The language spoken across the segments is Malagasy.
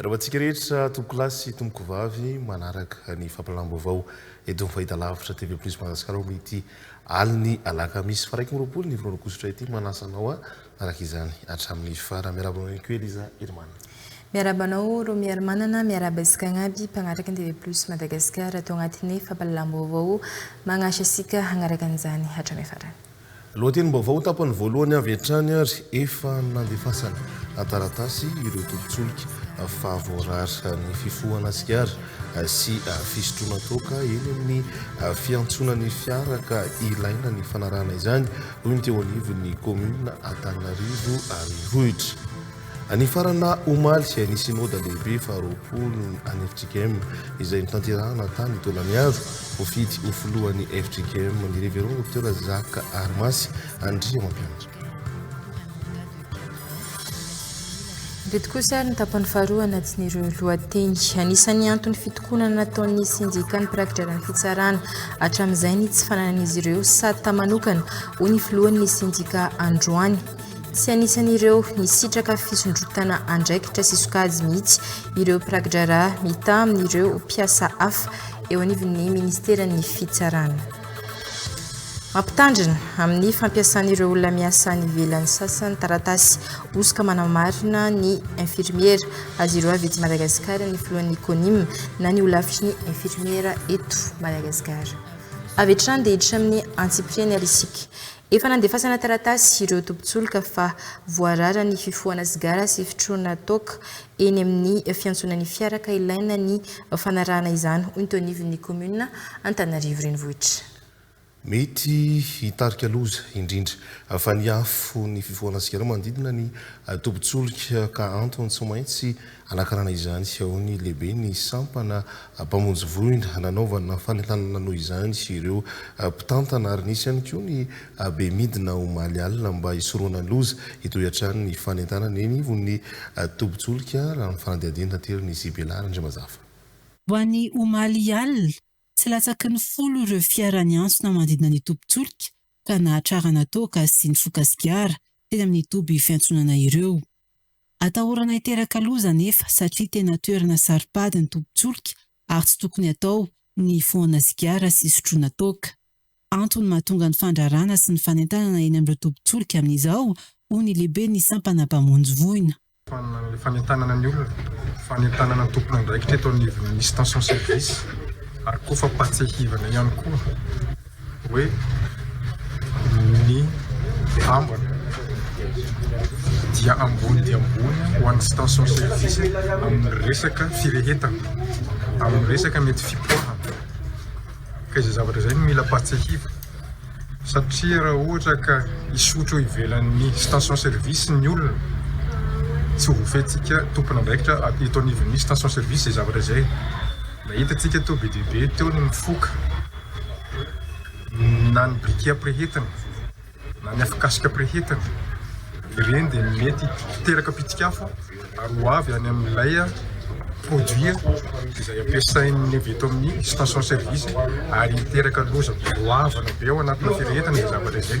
Miarahaba antsika rehetra tompokolahy sy tompokovavy manaraka ny fampilalam-baovao eto amin'ny Fahitalavitra TV Plus Madagasikara amin'ity alin'ny alakamisy faraika amby roapolo ny volana aogositra ity. Manasa anao araka izany hatramin'ny farany. Miarahaba anao ihany koa Eliza Herimanana. Miarahaba anao Romy Herimanana, miarahaba antsika agnaby mpagnataka ny TV Plus Madagasikara ato agnatin'ny fampilalam-baovao. Magnasa antsika hagnaraka an'izany hatramin'ny farany. Lohatenim-baovao ho tapany voalohany avy hatrany ary efa nandefasany taratasy ireo tobin-tsolika fa voarara ny fifohana sigara sy fisotroana toaka eny amin'ny fiantsonan'ny fiara ka ilaina ny fanarahana izany, hoy ny teo anivon'ny kaominina Antananarivo Renivohitra. Ny faranà omaly, ny Synoda Lehibe faharoapolo an'ny fjkm, izay notanterahana tany Taolagnaro, voafidy ho filohan'ny fjkm ny Révérend Docteur Jacques Harimasy Andriamampianatra. Ireto kosa ary ny tapany faharoa anatin'ireo lohateny. Anisan'ny antony fitokonana nataon'ny sendikan'ny mpirakidraran'ny fitsarana hatramin'izay ny tsy fananan'izy ireo sata manokana, hoy ny filohan'ny sendika androany. Tsy anisan'ireo nisitraka fisondrotana andraikitra sy sokajy mihitsy ireo mpirakidraharaha mitaha amin'ireo mpiasa hafa eo anivon'ny Ministeran'ny Fitsarana. Mampitandrina amin'ny fampiasan'ireo olona miasa any ivelany sasany taratasy hosoka manamarina ny infirmiera azy ireo avy eto Madagasikara ny filohan'ny Conim na ny holafitry ny infirmiera eto Madagasikara. Avy hatrany dia hiditra amin'ny antsipiriany ary isika. Efa nandefasana taratasy ireo tobin-tsolika fa voarara ny fifohana sigara sy fitroana toaka eny amin'ny fiantsonan'ny fiara ka ilaina ny fanarahana izany, hoy ny Tonivin'ny kaominina Antanarivo Renivohitra. Mety hitarika loza, indrindra fa ny afo, ny fifohana sigara manodidina ny tobin-tsolika ka antony tsy maintsy Hanakarana izany sy ahoany lehibe ny sampana mpamonjy voina nanaovana fanentanana noho izany sy ireo mpitantana ary nisy ihany koa ny be midina omaly alina mba hisorohana ny loza. Hitohy hatrany ny fanentanana eny ivon'ny tobin-tsolika raha ny fanadihadiana aterin'i Sibela Randriamazafa. Ho an'ny omaly alina, tsy latsaky ny folo ireo fiara niantsona manodidina ny tobin-tsolika ka nahatrarana toaka sy nifoka sigara teny amin'ny toby fiantsonana ireo. Atahorana hiteraka loza anefa satria tena toerana saro-pady ny tobin-tsolika ary tsy tokony atao ny hifohana sigara sy hisotroana toaka. Antony mahatonga ny fandraràna sy ny fanentanana eny amin'ireo tobin-tsolika amin'izao, hoy ny lehiben'ny sampana mpamonjy voina. Fananana ny fanentanana ny olona, fanentanana ny tompon'andraikitra eto anivon'ny station service ary koa fampahatsiahivana ihany koa. hoe ny ambiny dia ambony dia ambony ho an'ny station service amin'ny resaka firehetana, amin'ny resaka mety fipoahana. Ka izay zavatra izay no mila patsiahivina satria raha ohatra ka hisotro eo ivelan'ny station service ny olona, tsy ho voafehintsika tompon'andraikitra eto anivon'ny station service izay zavatra izay. Nahita antsika teo be dia be teo ny mifoka. na ny briquet-am-pirehetina na ny afokasikam-pirehetina, ireny dia mety hiteraka pitik'afo ary ho avy any amin'ilay produit izay ampiasain'ny avy eto amin'ny station service ary hiteraka loza goavana be ao anatin'ny firehetina izay zavatra izay.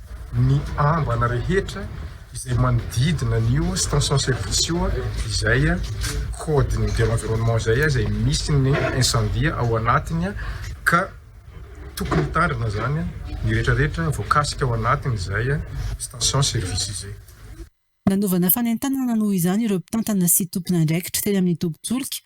ny ambana rehetra izay manodidina an'io station service io izay code ny de l'environnement izay izay misy ny incendie ao anatiny ka tokony hitandrina izany ny rehetra rehetra voakasika ao anatiny izay station service izay. Nanaovana fanentanana noho izany ireo mpitantana sy tompon'andraikitra teny amin'ny tobin-tsolika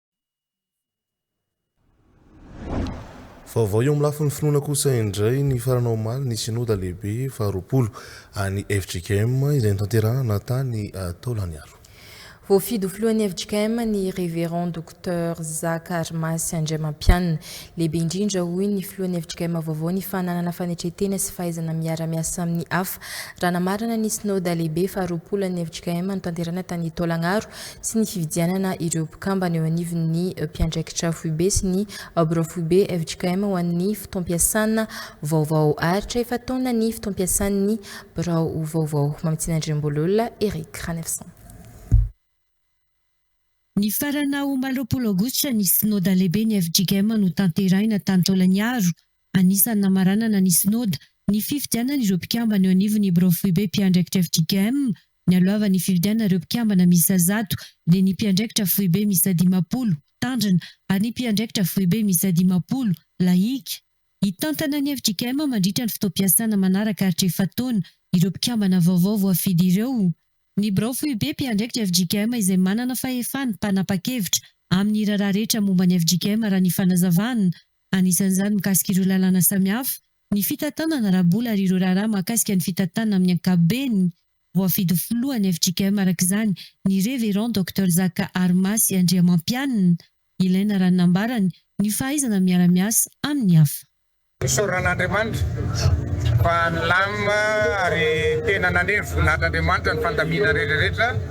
Vaovao eo amin'ny lafiny finoana kosa indray, nifarana omaly ny Synoda lehibe faharoapolo an'ny fjkm izay notanterahana tany Taolagnaro. Voafidy ho filohan'ny fjkm ny Révérend Docteur Zaka Rimasy Andriamampianina. Lehibe indrindra hoy ny filohan'ny fjkm vaovao ny fananana fanetren-tena sy fahaizana miara-miasa amin'ny hafa. Raha namarana ny Synoda lehibe faharoapolo an'ny fjkm notanterahina tany Taolagnaro sy ny fividianana ireo mpikambana eo anivon'ny mpiandraikitra foibe sy ny Birao foibe fjkm ho an'ny fotoam-piasana vaovao ary tra efa-taona ny fotoam-piasan'ny birao vaovao. Mamitsinandriamboalola Eric, ra neuf cent. Nifarana omaly roapolo aogositra ny Synoda lehiben'ny fjkm notanterahina tany Taolagnaro, Anisan'ny namaranana ny Synoda ny fifidianana ireo mpikambana eo anivon'ny Birao Foibe Mpiandraikitra fjkm. Nialohavan'ny nifidianana ireo mpikambana miisa zato dia ny Mpiandraikitra Foibe miisa dimampolo, Tandrina, ary ny Mpiandraikitra Foibe miisa dimampolo, Lahika. Hitantana ny fjkm mandritra ny fotoam-piasana manaraka aritra efa-taona ireo mpikambana vaovao voafidy ireo. Ny Birao Foibe Mpiandraikitra fjkm izay manana fahefana mpanapa-kevitra amin'ny raharaha rehetra momba ny fjkm raha ny fanazavana Anisan'izany mikasika ireo lalàna samihafa, ny fitantanana ara-bola ary ireo raharaha mahakasika ny fitantanana amin'ny ankapobeny. Voafidy ho filohan'ny fjkm araka izany ny Révérend Docteur Zaka Harimasy Andriamampianina. Ilaina raha ny nambarany ny fahaizana miara-miasa amin'ny hafa. Isaorana an'Andriamanitra fa nilamina ary tena nanery voninahitr'Andriamanitra ny fandaminana rehetra rehetra.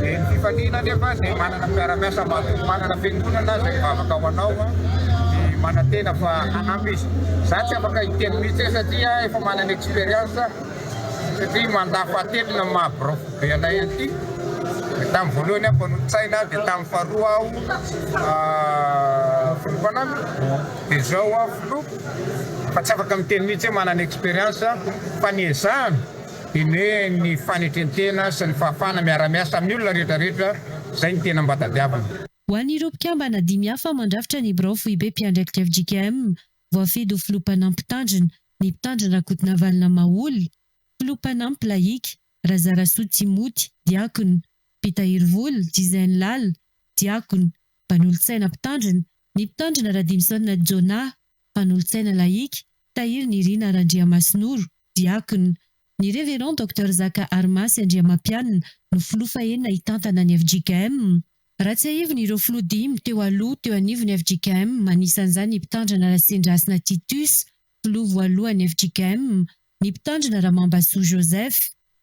Ny fifaliana anefa dia manana mpiara-miasa matoky manana fiangonana izay mivavaka ho anao dia manantena fa hanampy izy. Izaho tsy afaka hiteny mihitsy hoe satria efa manana expérience aho satria mandat fahatelony ny maha biraofo be anay an'ity. Tamin'ny voalohany aho mpanolo-tsaina dia tamin'ny faharoa aho filoha mpanampy dia izao aho filoha fa tsy afaka miteny mihitsy hoe manana expérience fa ny ezahana Dinihiny ny fanetrentena sy ny fahafahana miara-miasa amin'ny olona rehetra rehetra izay ny tena mba tadiavina. Ho an'ireo mpikambana dimy hafa mandrafitra ny birao foibe mpiandraikitra fjkm, voafidy ho filoha mpanampy mpitandrina, ny mpitandrina Rakotonavalona Maholy, filoha mpanampy lahika, Razarasoa Tsimouty, diakona, mpitahiry vola, Jizainy Lala, diakona, mpanolo-tsaina mpitandrina, ny mpitandrina Radimisaonina Jonah, Mpanolotsaina lahika, Tahiry Nirina Randriamasinoro, diakona. Ny Révérend Docteur Zaka Arimasy Andriamampianina no filoha fahenina hitantana ny fjkm. Raha tsiahivina ireo filoha dimy teo aloha teo anivon'ny fjkm, anisan'izany i Mpitandrina Rasendrasina Titus, filoha voalohan'ny fjkm, ny Mpitandrina Ramambasoa Joseph,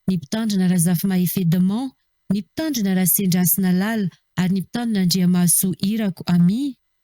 ny Mpitandrina Razafimahefy Edmond, ny Mpitandrina Rasendrasina Lala ary ny Mpitandrina Andriamahasoa Irako Amie.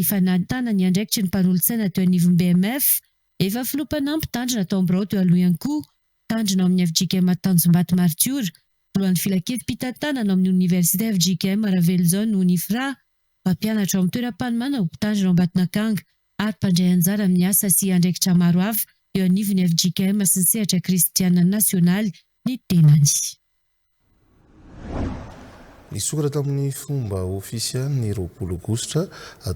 Efa nahitana ny andraikitry ny mpanolotsaina teo anivon'ny BMF, efa filoha mpanampy mpitandrina atao amin'ny birao teo aloha ihany koa, mpitandrina ao amin'ny fjkm Tanjombato Maritiora, filohan'ny filankevim-pitantanana ao amin'ny oniversite fjkm Ravelojaona Unifra, mpampianatra ao amin'ny toeram-panomanana ho mpitandrina ao Ambatonakanga ary mpandray anjara amin'ny asa sy andraikitra maro hafa eo anivon'ny fjkm sy ny sehatra kristiana nasionaly ny tenany. Nisokatra tamin'ny fomba ofisialy ny roapolo Aogositra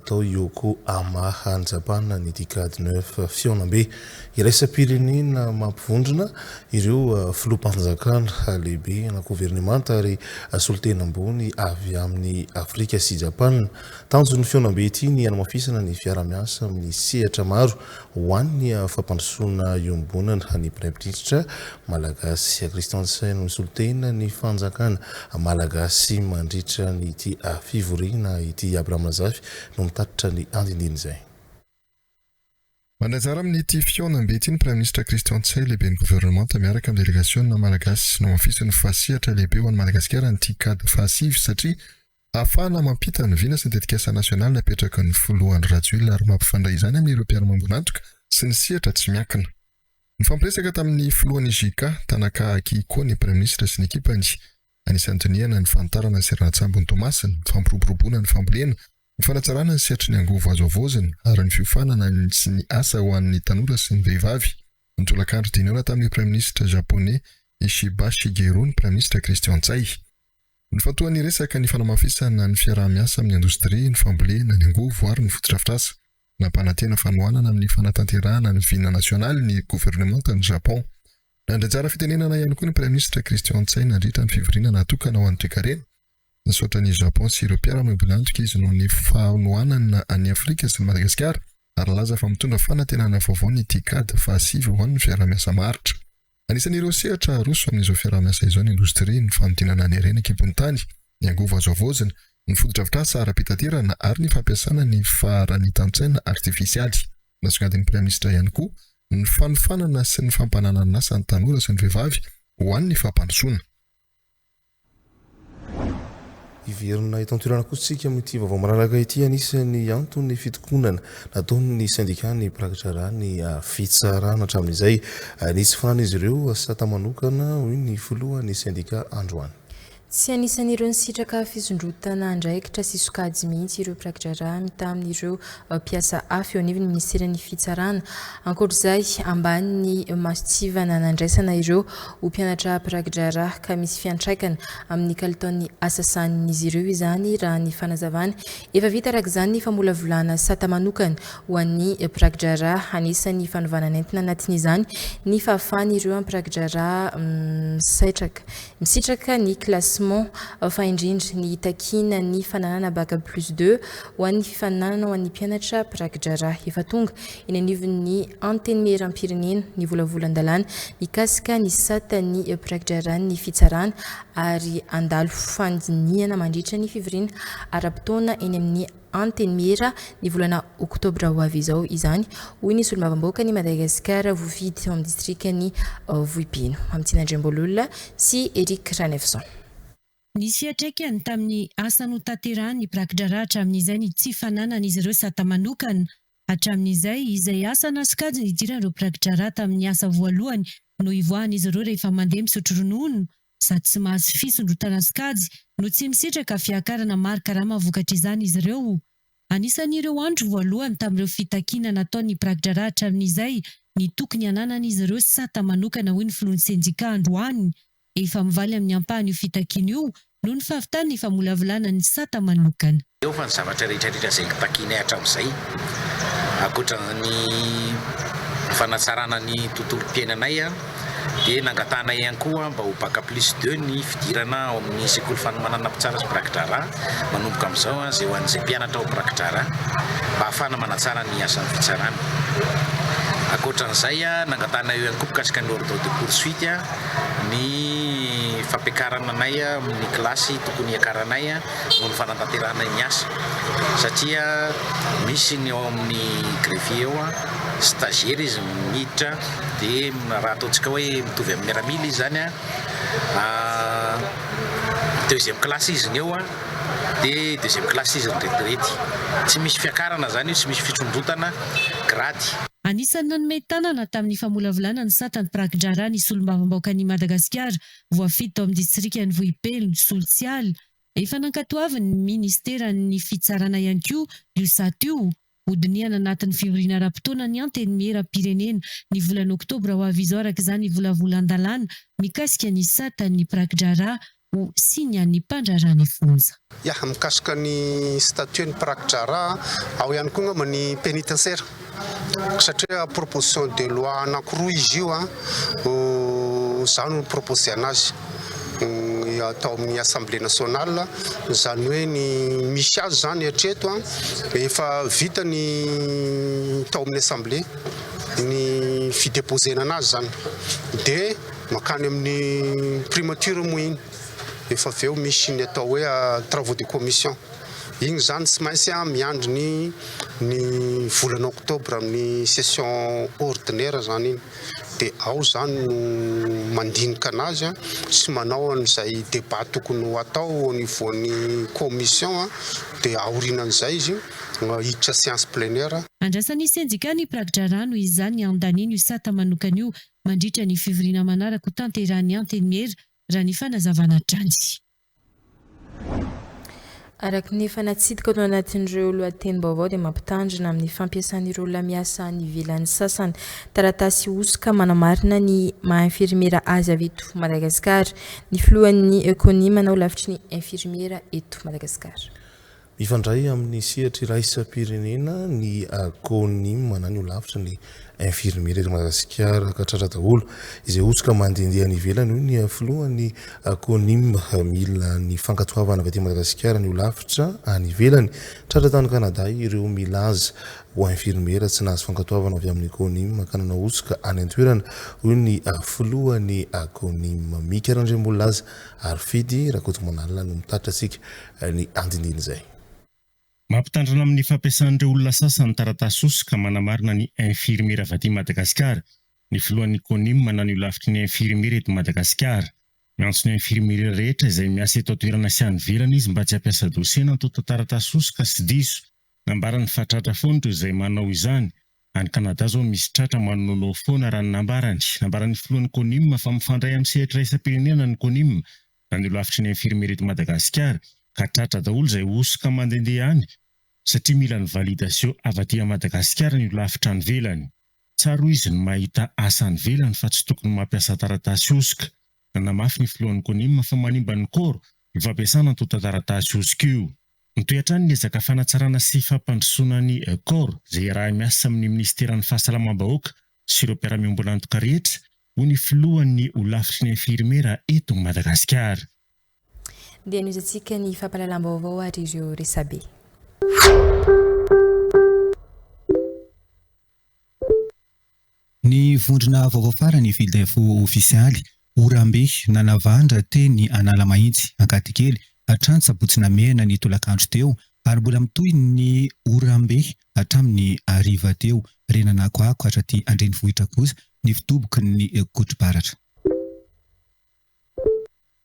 tao Yokohama, any Japana ny Decade Neuf, fihaonambe iraisam-pirenena mampivondrona ireo filoham-panjakana lehibe na governemanta ary solontena ambony avy amin'i Afrika sy Japana. Tanjon'ny fihaonambe ity ny hanamafisana ny fiarahamiasa amin'ny sehatra maro ho an' ny fampandrosoana iombonana ny Praiminisitra malagasy Christian Ntsay no misolo tena ny fanjakana malagasy mandritra ity fivoriana ity. Abraham Razafy no mitatitra ny andindin' izay. Mandray anjara amin' ity fihaonambe ity ny Praiminisitra Christian Ntsay, Lehiben'ny Governemanta miaraka amin'ny delegasiona malagasy. Nohamafisin'ny Fahasehatra Lehibe ho an'i Madagasikara ny Ticad fahasivy satria, Ahafahana mampita ny vina sy ny tetikasa nasionaly napetraky ny Filoha Andry Rajoelina ary mampifandray izany amin'ireo mpiara-mambon'antoka sy ny sehatra tsy miankina. Nifampiresaka tamin'ny Filohan'ny JK, Tanaka Akihiko ny Praiminisitra sy ny ekipany. Anisan'ny dinihana ny fanitarana ny seranan-tsambon'i Toamasina, ny fampiroboroboana ny fambolena, ny fanatsarana ny sehatry ny angovo azo havaozina ary ny fiofanana sy ny asa ho an'ny tanora sy ny vehivavy. Nitolakandro dinihona tamin'ny Praiminisitra Japoney Ishiba Shigeru ny Praiminisitra Christian Ntsay. Nifantohan'ny resaka ny fanamafisana ny fiaraha-miasa amin'ny indostria, ny fambolena, ny angovo ary ny fotodrafitrasa. Nampanantena fanohanana amin'ny fanatanterahana ny vina nasionaly ny governemantan'i Japon. Nandray anjara fitenenana ihany koa ny Praiminisitra Christian Tsay nandritra ny fivoriana natokana ho an'ny toekarena. Nisaotra an'i Japon sy ireo mpiara-miombon'antoka izy noho ny fanohanana an'i Afrika sy an'i Madagasikara ary nilaza fa mitondra fanantenana vaovao ny Ticad fahasivy ho an'ny fiaraha-miasa maharitra. Anisan'ireo sehatra haroso amin'izao fiaraha-miasa izao ny indostria, ny fanodinana ny harena an-kibon'ny tany, ny angovo azo havaozina, ny fotodrafitrasa ara-pitaterana ary ny fampiasana ny faharanitan-tsaina artifisialy. Nasongadin'ny Praiminisitra ihany koa ny fanofanana sy ny fampananan'asa ny tanora sy ny vehivavy ho an'ny fampandrosoana. Hiverina eto an-toerana kosa isika amin'ity vaovao malalaka ity. Anisan'ny anton'ny fitokonana nataon'ny sendika ny mpirakidraharaha ny fitsarana hatramin'izay. Nisy fananan'izy ireo sata manokana, hoy ny filohan'ny sendika androany. Tsy anisan'ireo nisitraka fisondrotana andraikitra sy sokajy mihitsy ireo mpirakidraharaha mitaha amin'ireo mpiasa hafa eo anivon'ny minisiteran'ny fitsarana. Ankoatra izay, ambany ny masontsivana nandraisana ireo ho mpianatra mpiraki-draharaha ka misy fiantraikany amin'ny kalitaon'ny asa sahanin'izy ireo izany raha ny fanazavany. Efa vita araka izany ny famolavolana sata manokana ho an'ny mpiraki-draharaha. Anisan'ny fanovana nentina anatin'izany ny fahafahan'ireo mpiraki-draharaha misaitraka misitraka ny classement fa indrindra ny hitakiana ny fananana Bac plus deux ho an'ny fifaninanana ho an'ny mpianatra mpiraki-draharaha efa tonga eny anivon'ny Antenimierampirenena ny volavolan-dalàna mikasika ny sata ny mpiraki-draharahan'ny fitsarana ary handalo fandinihana mandritra ny fivoriana ara-potoana eny amin'ny Antenimiera ny volana oktobra ho avy izao izany, hoy ny solombavambahoakan'i Madagasikara voafidy tao amin'ny distrikan'i Vohipeno, Mamitiana Andriambaololona sy Eric Ranefson. Nisy fiantraikany tamin'ny asa notanterahan'ny mpiraki-draharaha hatramin'izay ny tsy fananan'izy ireo sata manokana Hatramin'izay, izay asa na sokajy nidiran'ireo mpirakidraharaha tamin'ny asa voalohany no hivoahan'izy ireo rehefa mandeha misotro ronono, sady tsy mahazo fisondrotana sokajy no tsy misitraka fiakarana mari-karama vokatr'izany izy ireo. Anisan'ireo andro voalohany tamin'ireo fitakiana nataon'ny mpirakidraharaha hatramin'izay ny tokony hananan'izy ireo sata manokana, hoy ny filohan'ny sendikà androany, Efa mivaly amin'ny ampahany io fitakiana io noho ny fahavitany ny famolavolana ny sata manokana. Eo fa ny zavatra rehetra rehetra izay notakianay hatramin'izay, ankoatra ny fanatsarana ny tontolom-piainanay, dia nangatahanay ihany koa mba ho Bac plus deux ny fidirana ao amin'ny sekoly fanomanana mpitsara sy mpirakidraharaha manomboka amin'izao izay ho an'izay mpianatra ho mpirakidraharaha mba hahafahana manatsara ny asan'ny fitsarana. Ankoatra an'izay, nangatahanay eo ihany koa mikasika ny ordre de poursuite. ny fampiakarana anay amin'ny kilasy tokony hiakaranay noho ny fanatanterahanay ny asa satria misy ny ao amin'ny greffier ao stagiaire izy miditra dia raha ataontsika hoe mitovy amin'ny miaramila izy zany deuxième classe izy ny eo dia deuxième classe izy retirety, tsy misy fiakarana zany io, tsy misy fitsondrotana grade. Anisan'ny nanome tanana tamin'ny famolavolana ny satan'ny mpiraki-draharaha ny Solombavambahoakan'i Madagasikara voafidy tao amin'ny distrikan'i Vohipeno, Soltsiala. Efa nankatoavin'ny minisiteran'ny Fitsarana ihany koa io sata io. Hodinihana anatin'ny fivoriana ara-potoana ny Antenimieram-pirenena ny volana oktobra ho avy izao araka izany volavolan-dalàna mikasika ny satan'ny mpiraki-draharaha Ho signe an'ny mpandraharaha ny fonja. Ya, mikasika ny statut ny mpiraki-draharaha, ao ihany koa angamba ny penitentiaire satria proposition de loi anankiroa izy io no za no ni-proposer-na azy tao amin'ny Assemblée nationale, izany hoe ny misy azy izany hatreto dia efa vita ny tao amin'ny Assemblée ny fi-deposer-na anazy izany dia. Mankany amin'ny primature moa iny efa avy eo misy ny atao hoe travaux de commission. Iny izany tsy maintsy miandry ny ny volana octobre amin'ny session ordinaire izany iny dia ao izany no mandinika an'azy sy manao an'izay débat tokony ho atao au niveau ny commission dia aorinan'izay izy hiditra séance plenaire. Andrasan'ny sendika ny mpirakidrara noho izany andaniny io sata manokana io mandritra ny fivoriana manaraka ho tanterahin'ny Antenimiera, raha ny fanazavana hatrany. Araka ny efa natsidika tao anatin'ireo lohatenim-baovao dia mampitandrina amin'ny fampiasan'ireo lamiasa any ivelany sasany taratasy hosoka manamarina ny maha-infirmiera azy avy eto Madagasikara ny filohan'ny Coni manao lafitry ny infirmiera eto Madagasikara. Mifandray amin'ny sehatra iraisam-pirenena ny Agonim na ny Holafitry ny Infirmiera eto Madagasikara katratra daholo izay hosoka mandehandeha any ivelany hoy ny filohan'ny Agonim. Mila ny fankatoavana avy aty Madagasikara ny Holafitra any ivelany. Tratra tany Kanada ireo milaza ho Infirmiera tsy nahazo fankatoavana avy amin'ny Agonim ka nanao hosoka any an-toerana hoy ny filohan'ny Agonim. Mika Randriambonilaza ary Fidy Rakotomanala no mitatitra antsika ny andinidin'izay. Mampitandrina amin'ny fampiasan'ireo olona sasany ny taratasy hosoka manamarina ny infirmiera vaty Madagasikara ny filohan'ny Conim mananio lafitry ny infirmiera eto Madagasikara. Miantso ny infirmiera rehetra izay miasa eto an-toerana sy any ivelany izy mba tsy hampiasa dosie nantontan-taratasy hosoka sy diso. Nambarany fa tratra foana ireo izay manao izany. Any Canada izao misy tratra manononao foana raha ny nambarany. Nambaran'ny filohan'ny Conim fa mifandray amin'ny sehatra iraisam-pirenena ny Conim na ny holafitry ny infirmier eto Madagasikara ka tratra daholo izay hosoka mandendeha any satria mila ny validation avy aty a Madagasikara ny holafitra any velany. Tsara hoy izy ny mahita asa any velany fa tsy tokony mampiasa taratasy hosoka. Nanamafy ny filohan'ny Conim fa manimba ny corps ny fampiasana antontan-taratasy hosoka io. Mitohy hatrany ny ezaka fanatsarana sy fampandrosoana ny corps izay iaraha-miasa amin'ny minisiteran'ny fahasalamam-bahoaka sy ireo mpiara-miombon'antoka rehetra hoy ny filohan'ny holafitry ny infirmera eto Madagasikara. Dia nohizantsika ny fampahalalam-baovao ary ireo resabe. Ny vondrona vaovao farany Fildefo ofisialy, Orambe, nanavandra teny Analamahitsy, Ankadikely, hatrany sabotsy namehana ny tolakandro teo ary mbola mitohy ny Orambe Hatramin'ny hariva teo, re nanakoako hatraty an-drenivohitra kosa ny fitoboky ny Kotribaratra.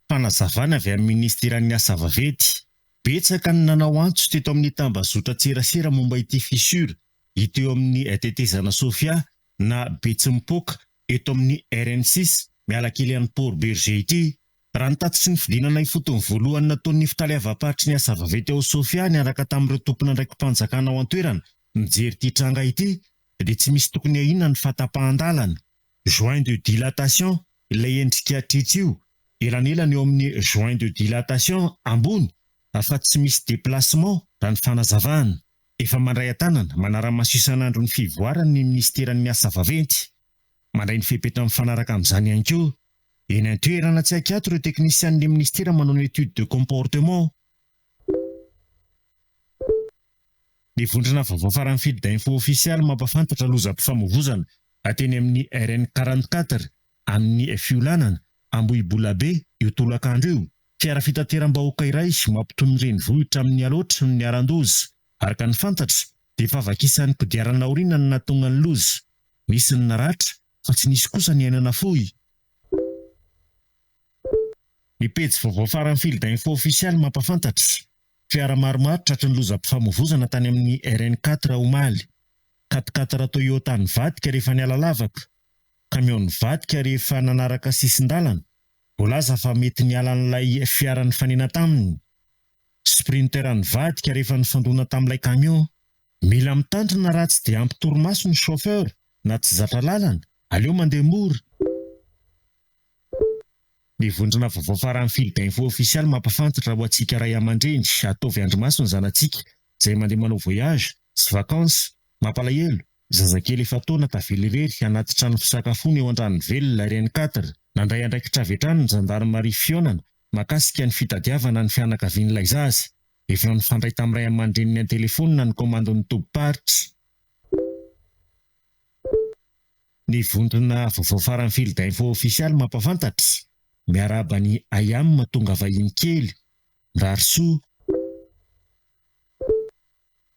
Fanazavana avy amin'ny Minisiteran'ny Asa Vaventy, Betsaka ny nanao antso teto amin'ny tambazotran-tserasera momba ity fissure ito eo amin'ny tetezana Sofia na Betsimpôka eto amin'ny RN six miala kely an'i Port Bergé ity. Raha ny tatitry ny fidinana ifotony voalohany nataon'ny Nifitaleavam-paritry ny Asa Vaventy ao Sofia niaraka tamin'ireo tompon'andraiki-panjakana ao an-toerana mijery ity tranga ity dia tsy misy tokony ahiana ny fahatapahan-dalana, joint de dilatation, ilay endrika tritry io, elanelany eo amin'ny joint de dilatation ambony fa tsy misy déplacement raha ny fanazavana. Efa mandray an-tanana, manara-maso isan'andro ny fivoarany ny Minisiteran'ny Asa Vaventy. Mandray ny fepetra mifanaraka amin'izany ihany koa Eny an-toerana tsy ankiato ireo teknisian'ny minisitera manao ny étude de comportement. Ny vondrona vaovao faran'ny Field Info Official mampahafantatra lozam-pifamoivoizana teny amin'ny RN quarante quatre amin'ny fiolanana Ambohibolabe io tolakandro io. Fiara fitateram-bahoaka iray mampitohy ny renivohitra amin'ny Alaotra no niharan-doza. Araka ny fantatra dia efa vakisan'ny kodiarana aoriana no nahatonga ny loza. Nisy ny naratra Fa tsy nisy kosa niainana fohy. Ny pejy vaovao faran'ny Field Info Ofisialy mampafantatra, Fiara maromaro tratry ny lozam-pifamoivozana tany amin'ny RN quatre omaly. Quat-quatre Toyota nivadika rehefa niala lavaka. Kamiao nivadika rehefa nanaraka sisin-dalana. Voalaza fa mety niala an'ilay fiara nifanena taminy. Sprinter nivadika rehefa nifandona tamin'ilay kamiao. Mila mitandrina raha tsy dia ampy torimaso ny chauffeur na tsy zatra lalana, aleo mandeha mora. Ny vondrona vaovao faran'ny fil d'info official mampafantatra ho antsika ray amandreny ataovy andrimaso ny zanatsika izay mandeha manao voyage sy vacances mampalahelo zazakely efa-taona tavela irery anaty trano fisakafoana eo andranovelona rn quatre nandray andraikitra avy hatrany ny zandarimaria fihaonana makasika ny fitadiavana ny fianakavian'ilay zaza Efa mifandray tamin'ny ray aman-dreniny an-telefonina ny komandon'ny tobim-paritra. Ny vondrona vaovao faran'ny Field Info Official mampahafantatra, Miarahaba an'i Ayam tonga vahiny kely. Mirary soa.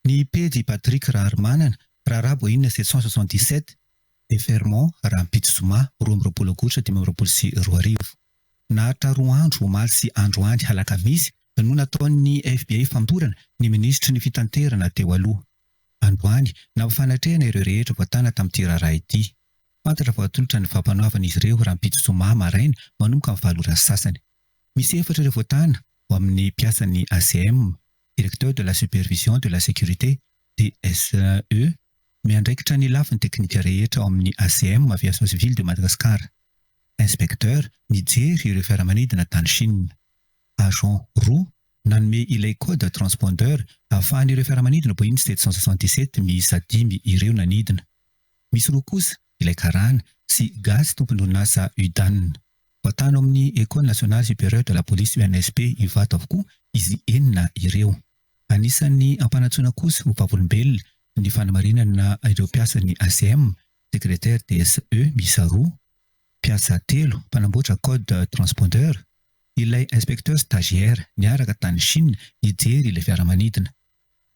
Ny pejy i Patrick Raharimanana, raharaha boahinina sept cent soixante-dix-sept, Déferrement, rahampitso zoma roa amby roapolo aogositra dimy amby roapolo sy roa arivo. Naharitra roa andro omaly sy androany alakamisy no nataon'ny FBI fampiorana ny minisitry ny fitanterana teo aloha. Androany, nampifanatrehana ireo rehetra voatàna tamin'ity raharaha ity. Fantatra fa atolotra ny fampanoavana izy ireo rahampitso zoma maraina manomboka ny valo ora sy sasany. Misy efatra ireo voatàna ao amin'ny mpiasan'ny ACM. Directeur de la Supervision de la Sécurité, DSSE, miandraikitra ny lafiny teknika rehetra ao amin'ny ACM, Aviation Civile de Madagascar. Inspecteur mijery ireo fiaramanidina tany Chine. Agent roa nanome ilay code transponder ahafahan'ireo fiaramanidina Boeing sept cent soixante-dix-sept miisa dimy ireo nanidina. Misy roa kosa ilay karana, sy gasy tompon'orinasa UDAN. Voatany ao amin'ny Ecole Nationale Supérieure de la Police, ENSP, Ivato avokoa izy enina ireo. Anisan'ny ampanantsoina kosa ho vavolombelona ny fanamarinana ireo mpiasan'ny ACM, Secrétaire DSE miisa roa, mpiasa telo mpanamboatra code transpondeur, ilay inspecteur stagiaire niaraka tany Chine hijery ilay fiaramanidina.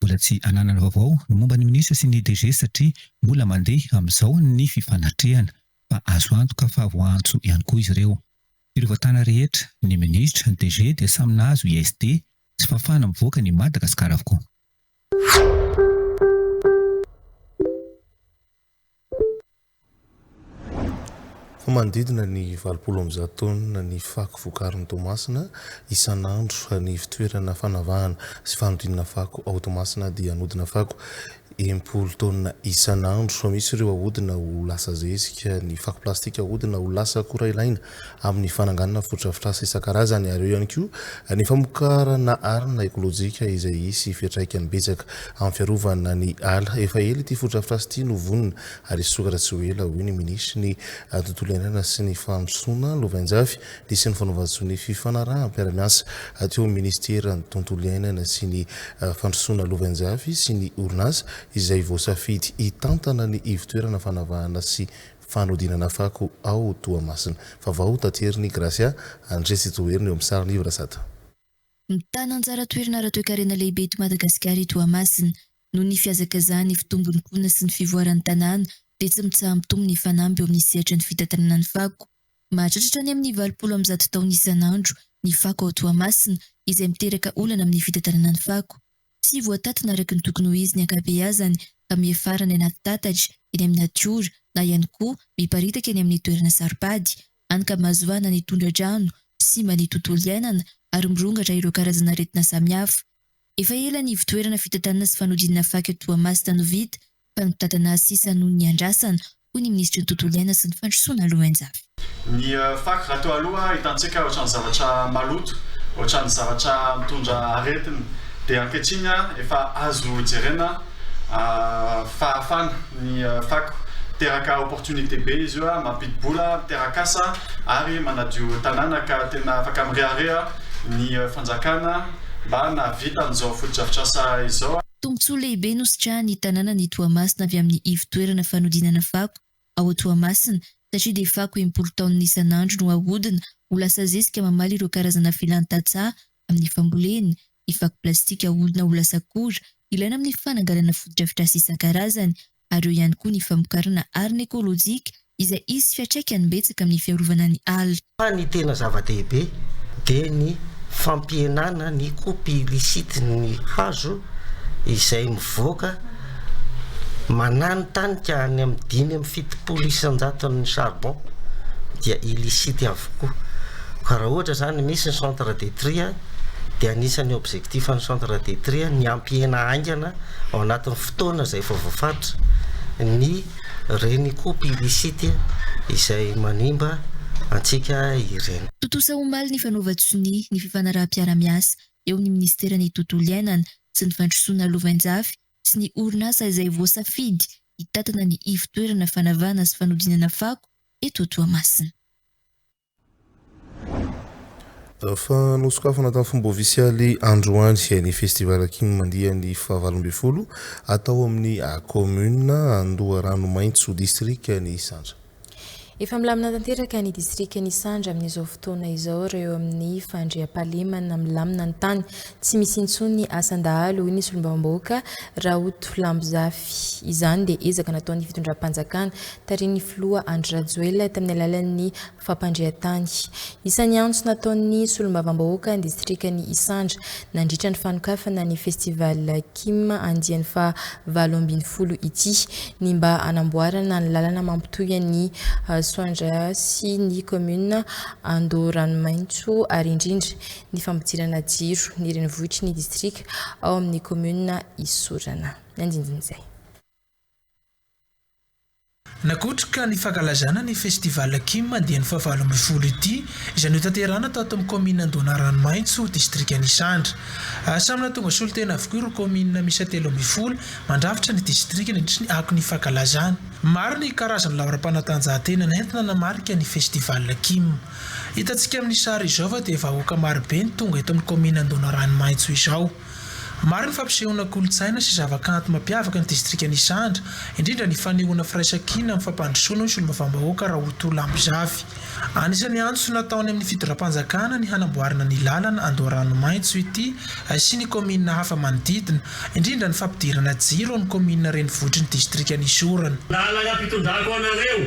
Mbola tsy ananana vaovao ny momba ny minisitra sy ny DG satria mbola mandeha amin'izao ny fifanatrehana. Fa azo antoka fa voaantso ihany koa izy ireo. Ireo tana rehetra, ny minisitra, ny DG dia samy nahazo ISD sy fafana mivoaka an'i Madagasikara avokoa. Ho manodidina ny valopolo amby zato taonina ny fako vokarin'i Toamasina isan'andro. Ny ivon-toerana fanavahana sy fanodinana fako ao Toamasina dia anodina fako enimpolo taonina isan'andro. Misy ireo ahodina ho lasa zezika, ny fako plastika ahodina ho lasa akora ilaina amin'ny fananganana fotodrafitrasa isan-karazany ary eo ihany koa ny famokarana arina ekolojika izay hisy fiantraikany betsaka amin'ny fiarovana ny ala. Efa ela ity fotodrafitrasa ity no vonona ary hisokatra tsy ho ela, hoy ny minisitry ny Tontolo iainana sy ny Fampandrosoana lovainjafy nisy ny fanaovan-tsoa ny fifanaraham-piara-miasa teo amin'ny minisiteran'ny Tontolo iainana sy ny Fandrosoana lovainjafy sy ny orinasa izay voasafidy hitantana ny ivotoerana fanavahana sy Fanodinana fako ao Toamasina. Vaovao taterin'i Gracia André sy Toherina eo amin'ny sariny Yves Razata. Mitana anjara toerana ara-toekarena lehibe eto Madagasikara i Toamasina. Noho ny fihazakazahan'ny fitombon'ny mponina sy ny fivoaran'ny tanàna dia tsy mitsaha-mitombo ny fanamby eo amin'ny sehatra ny fitantanana ny fako. Mahatratra hatrany amin'ny valopolo amby zato taonina isan'andro ny fako ao Toamasina izay miteraka olana amin'ny fitantanana ny fako. Tsy voatatona araka ny tokony ho izy ny ankabeazany ka miafara any anaty tatatra, eny amin'ny natiora, na ihany koa miparitaka eny amin'ny toerana saro-pady, hany ka mahazoana ny tondra-drano, simba ny tontolo iainana ary mirongatra ireo karazana aretina samihafa. Efa ela ny ivotoerana fitantanana sy fanodinana faka Toamasina no vita Fanondratana sisa noho ny niandrasana, hoy ny minisitry ny Tontolo iainana sy ny fandrosoana Lowenjafy. Ny fako raha toa aloha hitantsika ohatran'ny zavatra maloto, ohatran'ny zavatra mitondra aretina dia ankehitriny efa azo jerena fahafana ny fako. Miteraka opportunité be izy io, mampidi-bola, miteraka asa ary manadio tanàna ka tena afaka mirehareha ny fanjakana mba nahavita an'izao fotodrafitrasa izao. Tombontsoa lehibe nositrahan'ny tanànan'i Toamasina avy amin'ny ivon-toerana fanodinana fako ao Toamasina satria dia fako impolo taonina isan'andro no ahodina ho lasa zezika mamaly ireo karazana filàn'ny tantsaha amin'ny fambolena, ny fako plastika ahodina ho lasa akora ilaina amin'ny fananganana fotodrafitrasa isan-karazany ary eo ihany koa ny famokarana arina ekolojika izay hisy fiatraikany betsaka amin'ny fiarovana ny ala. Fa ny tena zava-dehibe dia ny fampihenana ny kopy illicite ny hazo izay mivoaka mananitanika any amin'ny dimy amby fitopolo isan-jaton'ny charbon dia illicite avokoa. Ka raha ohatra izany misy ny centre de tri dia anisan'ny objectif ny centre de tri ny hampihena haingana ao anatin'ny. fotoana izay vao voafaritra ny renikoop illicite izay manimba antsika ireny. Tontosa omaly ny fanaovan-tsonia ny fifanaraham-piarahamiasa eo ny Ministeran'ny Tontolo Iainana sy ny Fandrosoana Lovainjafy sy ny orinasa izay voasafidy hitantana ny ivo-toerana fanavahana sy fanodinana fako eto Toamasina. Efa nosokafana tamin'ny fomba ofisialy androany ny Festival King Mandiany fahavalo ambin'ny folo atao amin'ny Kaominina Andoharanomaitso, Distrikan' Isandra. Efa milamina tanteraka ny Distrikan' Isandra amin'izao fotoana izao reo amin'ny fandriampahalemana milamina ny tany Tsy misy intsony ny asan-dahalo, hoy ny solombavambahoaka Raoto Lambozafy. Izany dia ezaka nataon'ny fitondram-panjakana tarihin'ny filoha Andry Rajoelina tamin'ny alalan'ny fampandrian-tany. Isan'ny antso nataon'ny solombavambahoaka ny distrikan'i Isandra nandritra ny fanokafana ny Festival Kim andiany faha valo ambin'ny folo ity ny mba hanamboarana ny lalana mampitohy an'i Soandraha sy ny kaominina Andoharanomaitso ary indrindra ny fampidirana jiro ny renivohitry ny distrika ao amin'ny kaominina Isorana. Ny andindin'izay. Nakotrika ny fankalazana ny Festival Kim dieny fahavalo ambin'ny folo ity izay notanterahina tao amin'ny kaominina Andoana Ranomaitso, distrikan'Isandra. Ary samy nahatonga solontena avokoa ireo kaominina miisa telo ambin'ny folo mandrafitra ny distrika nandritra ny akon'ny fankalazana. Maro ny karazan'ny laoram-panatanjahantena nentina nanamarika ny Festival Kim. Hitantsika amin'ny sary izao fa dia vahoaka marobe no tonga eto amin'ny kaominina Andohanaranomaitso izao. Maro ny fampisehoana kolontsaina sy zavakanto mampiavaka ny distrikan'i Isandra, indrindra ny fanehoana firaisankina amin'ny fampandrosoana ny solombavambahoaka Rahotoa Lambozavy. Anisan'ny antso nataony amin'ny fitondram-panjakana ny hanamboarana ny lalana Andoharanomaitso ity sy ny kaominina hafa manodidina, indrindra ny fampidirana jiro amin'ny kaominina renivohitry ny distrikan'i Sorona. Lalana fitondrako anareo.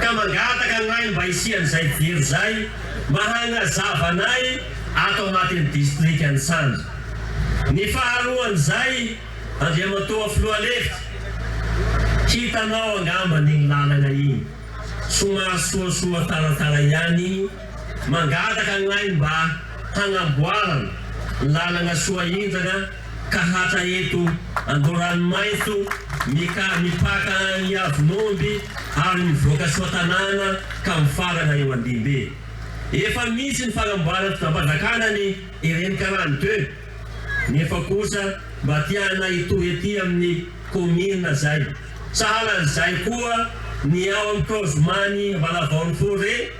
ka mangataka anay mba hisian'izay jiro izay mba hagnazava anay ato anatin'ny distrikan'i Sandra. Ny faharoan'izay, Andriamatoa Filoha lefitra, hitanao angamba iny lalana iny, somary soasoa taratara ihany, Mangataka ny ainy mba hanamboarana lalana soahenjana ka hatra eto Andoharanomaitso mika mipaka an' i Avon'omby ary mivoaka Soatanàna ka mifarana eo Andimbe. Efa misy ny fanamboaran mpitambadakana ny ireny karany teo nefa kosa mba tiana hitohy aty amin'ny kaominina zay. Sahala an'izay koa ny ao am kaozimany Valavao ny Forêt.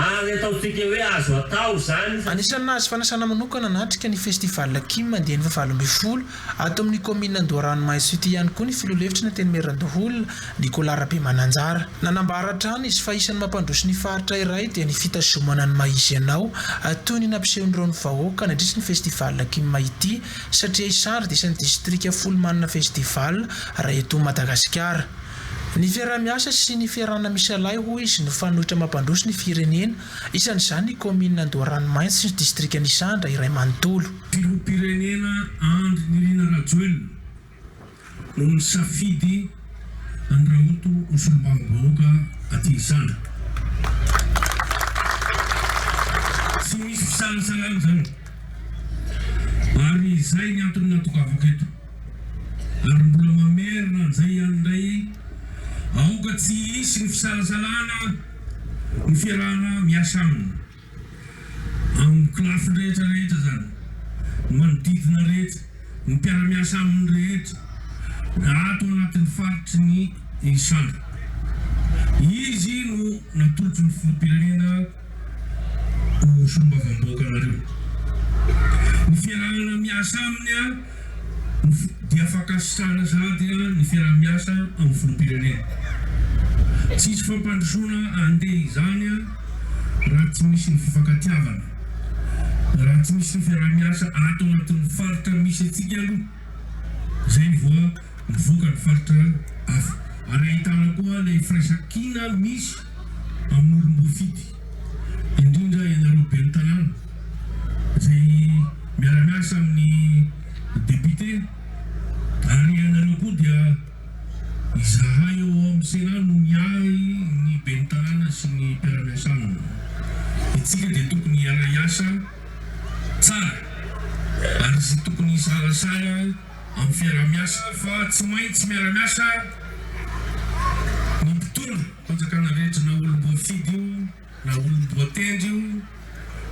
Ary ataontsika hoe azo atao izany. Anisan'ny nahazo fanasana manokana hanatrika ny Festival Kim andiany fahavalo ambin'ny folo ato amin'ny kaominina Andoharano Mahazo City ihany koa ny filoha lefitry ny Antenimierandoholona, Nicolas Rabemananjara. Nanambara hatrany izy fa isan'ny mampandroso ny faritra iray dia ny fitazomana ny maha izy anao toy ny nampisehon'ireo ny vahoaka nandritry ny Festival Kim ity satria i Sary dia isan'ny distrika folo manana Festival raha eto Madagasikara. Ny fiaraha-miasa sy ny fiarahana misy ialahy hoy izy no fanoitra mampandroso ny firenena, isan'izany ny kaominina Andoharanomainty sy ny distrikan' Isandra iray manontolo. Filoham-pirenena Andry Nirina Rajoelina no nisafidy an'i Rahoto ho solombavambahoaka aty Isandra. Tsy misy fisalasalana izany ary izay ny antony natongavako eto. Ary mbola mamerina an'izay ihany indray, aoka tsy hisy ny fisalasalana ny fiarahana miasa aminy, amin'ny kolafiny rehetra rehetra izany, ny manodidina rehetra, ny mpiara-miasa aminy rehetra, na ato anatin'ny faritry ny Isandra. Izy no natolotry ny Filoham-pirenena. ho solombavambahoaka anareo. Ny fiarahana miasa aminy dia fankasitrahana sahady ny fiaraha-miasa amin'ny filoham-pirenena. Tsy hisy fampandrosoana handeha izany raha tsy misy ny fifankatiavana, raha tsy misy ny fiaraha-miasa ato anatin'ny faritra misy antsika aloha, izay vao mivoaka ny faritra hafa ary ahitana koa ilay firaisankina misy. Amorom-bofidy, indrindra ianareo ben'ny tanàna izay miara-miasa amin'ny depiote ary ianareo koa dia izahay ao amin'ny Sénat no miahy ny ben'ny tanàna sy ny mpiara-miasa aminy. Itsika dia tokony hiara-hiasa tsara ary tsy tokony hisalasala. amin'ny fiaraha-miasa fa tsy maintsy miara-miasa ny mpitondra fanjakana rehetra na olom-boafidy io na olom-boatendry io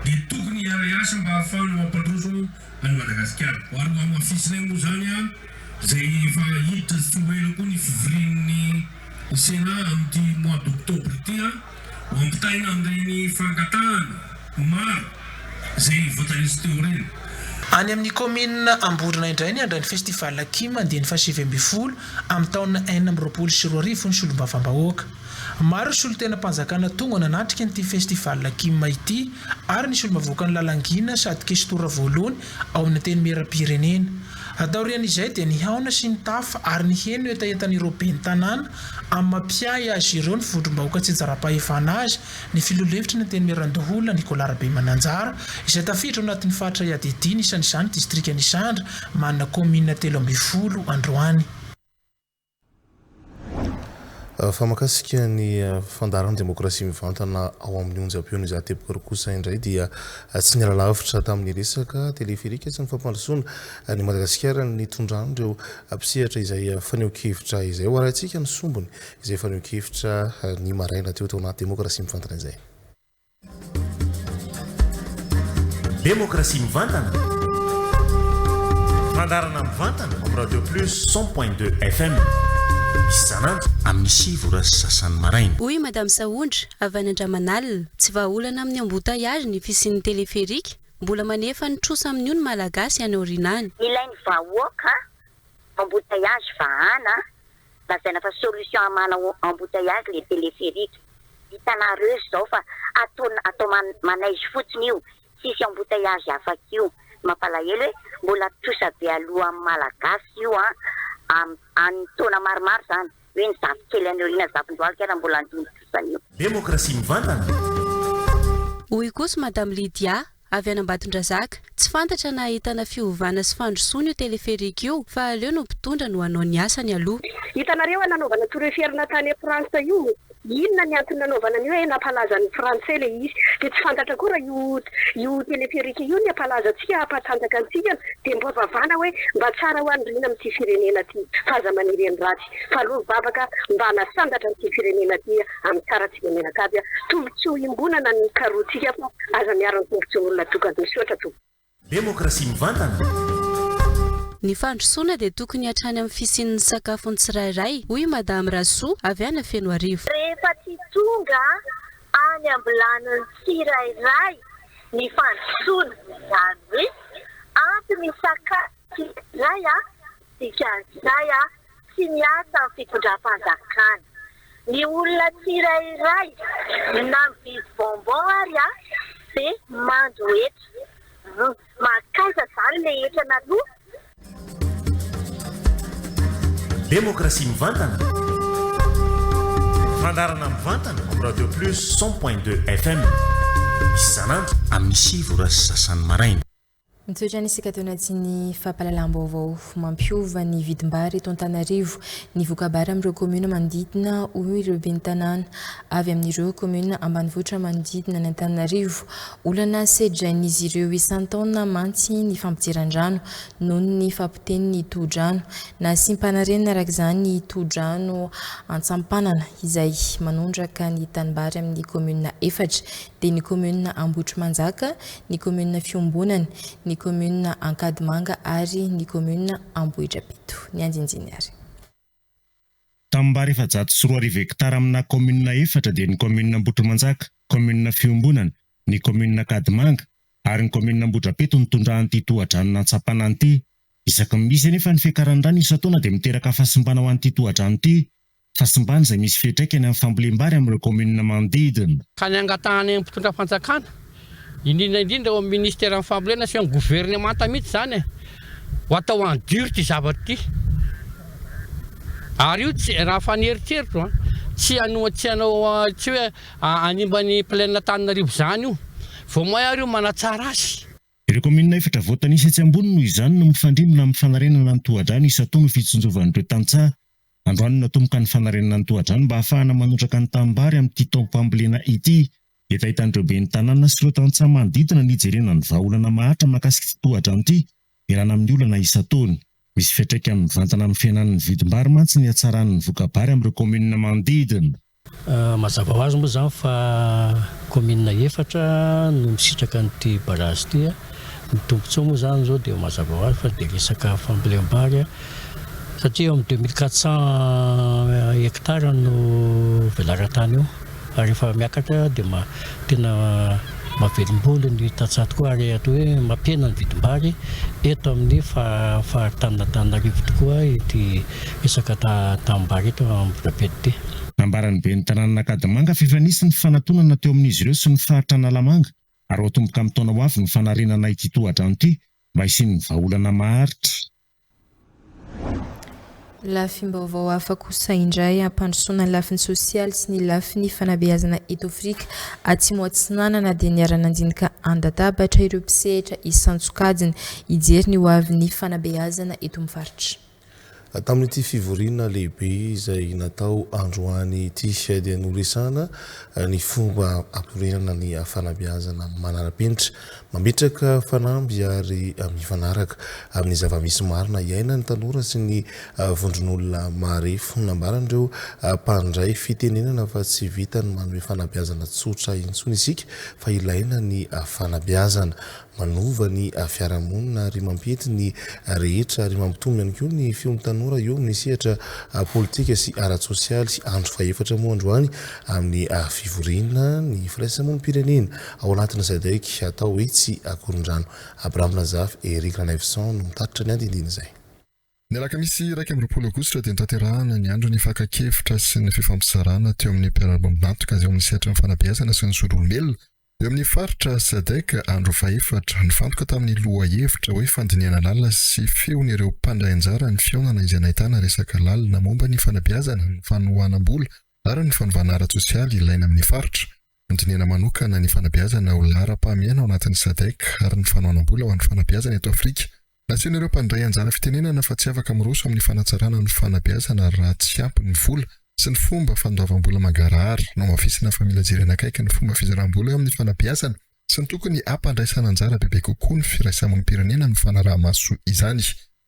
dia tokony hiara-hiasa mba hahafahana mampandroso an'i Madagasikara. Ho an'ny hamafisinay moa izany izay efa hiditra tsy ho ela koa ny fivorian'ny Sénat amin'ity mois d'octobre ity, Ampitaina amin'ireny fangatahana maro izay nivotan'izy teo ireny. Any amin'ny kaominina Amborina indray ny handray ny Festival Akim andiany fahasivy ambin'ny folo amin'ny taona enina amby roapolo sy roa arivo ny solombavambahoaka. Maro ny solontenam-panjakana tonga nanatrika an'ity Festival Akim ity ary ny solombavavoakan'i Lalangina sady Kestora voalohany ao amin'ny Antenimierampirenena, A Taorian'izay dia nihaona sy nitafa ary niheno hetahetan'ireo ben'ny tanàna amin'ny maha mpiahy azy ireo ny vondrom-bahoaka tsy ijara-pahefana azy ny filoha lefitry ny Antenimierandoholona Nicolas Rabemananjara izay tafiditra ao anatin'ny faritra iadidiany isan'izany distrikan'Isandra manana kaominina telo ambin'ny folo androany. Fa makasika ny fandaharan'ny demokrasia mivantana ao amin'ny onjam-peon'i Izaho Teboka kosa indray dia tsy niala lavitra tamin'ny resaka teleferika sy ny fampandrosoana an'i Madagasikara ny nitondran'ireo mpisehatra izay fanehoan-kevitra izay. Hoarahintsika ny sombiny izay fanehoan-kevitra ny maraina teo tao anaty demokrasia mivantana izay. Demokrasia mivantana, fandaharana mivantana amin'ny Radio Plus cent point deux FM isan'andro amin'ny sivy ora sy sasany maraina. Hoy i Madame Sahondra, avy any Andramanalina, Tsy vahaolana amin'ny embouteillage ny fisian'ny téléphérique. Mbola manefa ny trosa amin'io ny Malagasy any aoriana any. Nilain'ny vahoaka embouteillage vahana lazaina fa solution hamana embouteillage le telepherique, hitanareo izao fa atao atao manaizy fotsiny io, tsisy embouteillage afaka io, mampalahelo e, mbola trosa be aloha amin'ny malagasy io an, any taona maromaro izany, hoe ny zafikely any aoriana zafindohalika ary mbola handimby trosa an'io. Demokrasia mivantana! Hoy kosa Madame Lydia, Avy any Ambatondrazaka. Tsy fantatra na ahitana fiovana sy fandrosoana io téléphérique io fa aleo no mpitondra no hanao ny asany aloha. Hitanareo nanaovana tour Eiffel na tany France io inona ny antony nanaovana an'io eh nampalazan'ny Français le izy de tsy fantatra koa raha io io téléphérique io ny hampalaza antsika hampatanjaka antsika dia mba vavana hoe mba tsara ho an'ny rina amin'ity firenena ity fa aza maniry an'i ratsy Tsaroy vavaka mba hanasandatra an'ity firenena ty amin'ny tsara tsika mianakavy tombontsoa iombonana ny mikaroantsika fa aza miaro ny tombontsoan'olona tokana. Misaotra tompoko. Demokrasia mivantana. Ny fandrosoana dia tokony hatrany amin'ny fisian'ny sakafon'ny tsirairay, hoy i Madame Rasoa, avy any Fenoarivo. Rehefa tsy tonga any am-bilanin'ny tsirairay ny fandrosoana, izany hoe ampy ny sakafo Tsikizay a! Dikan'izay a! Tsy miasa ny fitondram-panjakana. Ny olona tsirairay na mividy bonbon ary a! dia mando hetra. Humm! Mankaiza izany ilay hetra naloa? Demokrasia mivantana, fandaharana mivantana ao Radio Plus cent point deux FM isan'andro amin'ny sivy ora sy sasany maraina. Mizotra ny sika teo anatin'ny fampahalalam-baovao mampiova ny vidim-bary eto Antananarivo ny voka-bary amin'ireo kaominina manodidina hoy ireo ben'ny tanàna avy amin'ireo kaominina ambanivohitra manodidina ny Antananarivo. Olana sedrain'izy ireo isan-taona mantsy ny fampidiran-drano noho ny fahapotehin'ny tohodrano nasiam-panarenana araka izany tohodrano Antsampanana izay manondraka ny tanimbary amin'ny kaominina efatra dia ny kaominina Ambohitrimanjaka ny kaominina Fiombonana, ny kaominina Ankadimanga ary ny kaominina Ambohidrapito. Ny andinindiny ary. Tanimbary efajato sy roa arivo hektara aminà kaominina efatra dia ny kaominina Ambohitrimanjaka, kaominina Fiombonana, ny kaominina Ankadimanga ary ny kaominina Ambohidrapito no tondrahan'ity tohadrano nantsapana ity. Isaky ny misy anefa ny fiakaran'ny rano isan-taona dia miteraka fahasimbana ho an'ity tohadrano ity Hasimbany izay misy fiantraikany amin'ny fambolem-bary amin'ireo kaominina manodidina. ka ny hangatahana eny mpitondra fanjakana, indrindra indrindra eo amin'ny ministeran'ny fambolena sy eo amin'ny governemanta mihitsy izany e, ho atao en dur ity zavatra ity, ary io tsy, raha fa ny eritreritro an, tsy hanoa, tsy hanao, tsy hoe hanimba ny plaine Antananarivo izany io, vao may ary io manatsara azy. Ireo kaominina efatra voatanisa etsy ambony noho izany no mifandrimbona amin'ny fanarenana ny tohadrano isan-taona ho fitsinjovan'ireo tantsaha Androany no natomboka ny fanarenana ny tohadrano mba hahafahana manondraka ny tanimbary amin'ity taom-pambolena ity. Efa hitan'ireo ben'ny tanàna sy ireo tantsaha manodidina ny hijerena ny vahaolana maharitra mahakasika ity tohadrano ity, ialana amin'ny olana isan-taona. Misy fiantraikany mivantana amin'ny fihenan'ny vidim-bary mantsy ny hatsaran'ny voka-bary amin'ireo kaominina manodidina. Mazava ho azy moa izany fa kaominina efatra no misitraka an'ity barazy ity. Ny tombontsoa moa izany izao dia mazava ho azy fa dia resaka fambolem-bary satria eo amin'ny deux mille quatre cents hectares no velaran-tany eo ary efa miakatra dia ma- Tena mahavelom-bolo ny tantsaha tokoa ary atao hoe mampihena ny vidim-bary eto amin'ny faritan'Antananarivo tokoa ity resaka tanim-bary eto Ambohidrapeto ity. Nambaran'ny ben'ny tanànan'Ankadimanga fa efa nisy ny fanatonana teo amin'izy ireo sy ny faritra Analamanga ary ho atomboka amin'ny taona ho avy ny fanarenana ity tohadrano ity mba hisian'ny vahaolana maharitra. Lafim-baovao hafa kosa indray hampandrosoana ny lafiny sosialy sy ny lafiny fanabeazana eto Afrika Atsimo Atsinanana dia niara-nandinika an-databatra ireo mpisehatra isan-tsokajiny hijery ny hoavin'ny fanabeazana eto amin'ny faritra. Tamin'ity fivoriana lehibe izay natao androany ity dia noresahana ny fomba hampireharana ny fanabeazana manara-penitra Mametraka fanamby ary mifanaraka amin'ny zava-misy marina iaina ny tanora sy ny vondron'olona marefo. Nambaran'ireo mpandray fitenenana fa tsy vitan'ny manome fanabeazana tsotra intsony isika fa ilaina ny fanabeazana. Manova ny fiarahamonina ary mampiety ny rehetra ary mampitombo ihany koa ny fion'ny tanora eo amin'ny sehatra politika sy ara-tsosialy. Andro fahefatra moa androany amin'ny fivoriana ny firaisamonim-pirenena Ao anatin'izay daiky atao hoe tsy akorondrano, Abraham Nazaf, Eric Ranaivoson no mitatitra ny andindiny izay. Ny alakamisy iraika amby roapolo aogositra dia notanterahana ny andron'ny fakan-kevitra sy ny fifampizarana teo amin'ny mpiara-miombon'antoka izay ao amin'ny sehatry ny fanabeazana sy ny solombelona eo amin'ny faritra Sadc andro fahefatra. Nifantoka tamin'ny lohahevitra hoe Fandinihana lalina sy feon'ireo mpandray anjara ny fihaonana izay nahitana resaka lalina momba ny fanabeazana, ny fanohanam-bola ary ny fanovana ara-tsosialy ilaina amin'ny faritra. Handinihana manokana ny fanabeazana ho laharam-pahamehana ao anatin'ny Sadc ary ny fanohanam-bola ho an'ny fanabeazana eto Afrika. Nasehon'ireo mpandray anjara fitenenana fa tsy afaka miroso amin'ny fanatsarana ny fanabeazana raha tsy ampy ny vola sy ny fomba fandoavam-bola mangarahara. Nohamafisina fa mila jerena akaiky ny fomba fizaràm-bola eo amin'ny fanabeazana sy ny tokony hampandraisan'anjara bebe kokoa ny firaisamonim-pirenena amin'ny fanaraha-maso izany.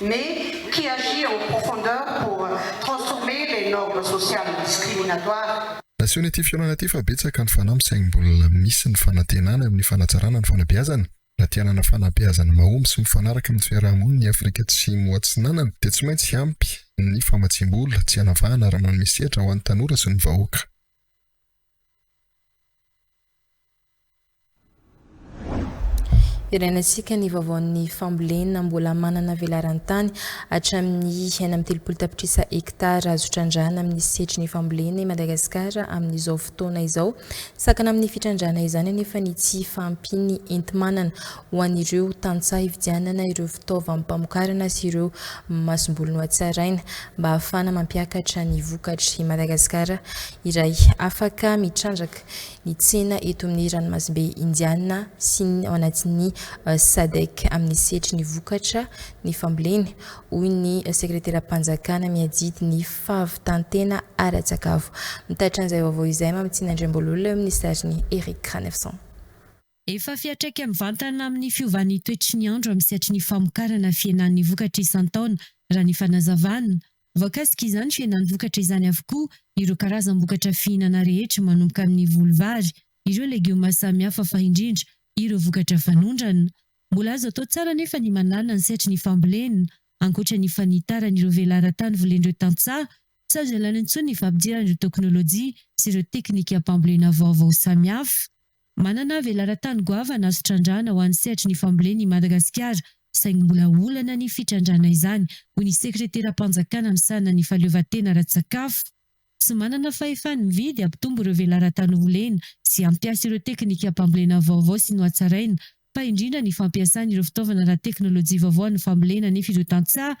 mais qui agit en profondeur pour transformer les normes sociales discriminatoires. Asehony ity fihaonana ity fa betsaka ny fanahy misaingy mbola misy ny fanantenany amin'ny fanatsarana ny fanabeazana. Raha te hanana fanabeazana mahomby sy mifanaraka amin'ny fiaraha-monin' i Afrika Atsimo Atsinanana dia tsy maintsy hiampy ny famatsiam-bola tsy hanavahana raha manome sehatra ho an'ny tanora sy ny vahoaka. Hirainantsika ny vaovaon'ny fambolena mbola manana velaran-tany hatramin'ny enina amby telopolo tapitrisa hektara azo trandrahana amin'ny setry ny fambolena i Madagasikara amin'izao fotoana izao. Sakana amin'ny fitrandrahana izany anefa ny tsy fahampian'ny enti-manana ho an'ireo tantsaha hividianana ireo fitaovam-pamokarana sy ireo masomboly nohatsaraina mba hahafahana mampiakatra ny vokatry Madagasikara iray afaka mitrandraka. ny tsena eto amin'ny ranomasimbe Indiana sy ny ao anatin'ny Sadc amin'ny sehatry ny vokatra ny fambolena, hoy ny Sekreteram-panjakana miadidy ny fahavitan-tena ara-tsakafo. Mitatitra an'izay vaovao izay Mamitiana Andriambololona eo amin'ny sarin'i Eric Ranefson. Efa fiantraika mivantana amin'ny fiovan'ny toetry ny andro amin'ny sehatry ny famokarana fihenan'ny vokatra isan-taona raha ny fanazavana. Voakasika izany fihenan'ny vokatra izany avokoa ireo karazam-bokatra fihinana rehetra manomboka amin'ny voly vary, ireo legioma samihafa fa indrindra ireo vokatra fanondrana. Mbola azo atao tsara anefa ny manala ny sehatry ny fambolena. Ankoatra ny fanitaran'ireo velaran-tany volen'ireo tantsaha, tsy azo ialana intsony ny fampidirana ireo teknolojia sy ireo teknikam-pambolena vaovao samihafa. Manana velaran-tany goavana azo trandrahana ho an'ny sehatry ny fambolena i Madagasikara, saingy mbola olana ny fitrandrahana izany, hoy ny sekreteram-panjakana misahana ny fahaleovantena ara-tsakafo. Tsy manana fahefany mividy hampitombo ireo velaran-tany volena sy hampiasa ireo teknikam-pambolena vaovao sy nohatsaraina, fa indrindra ny fampiasana ireo fitaovana ara-teknolojia vaovao amin'ny fambolena nefa ireo tantsaha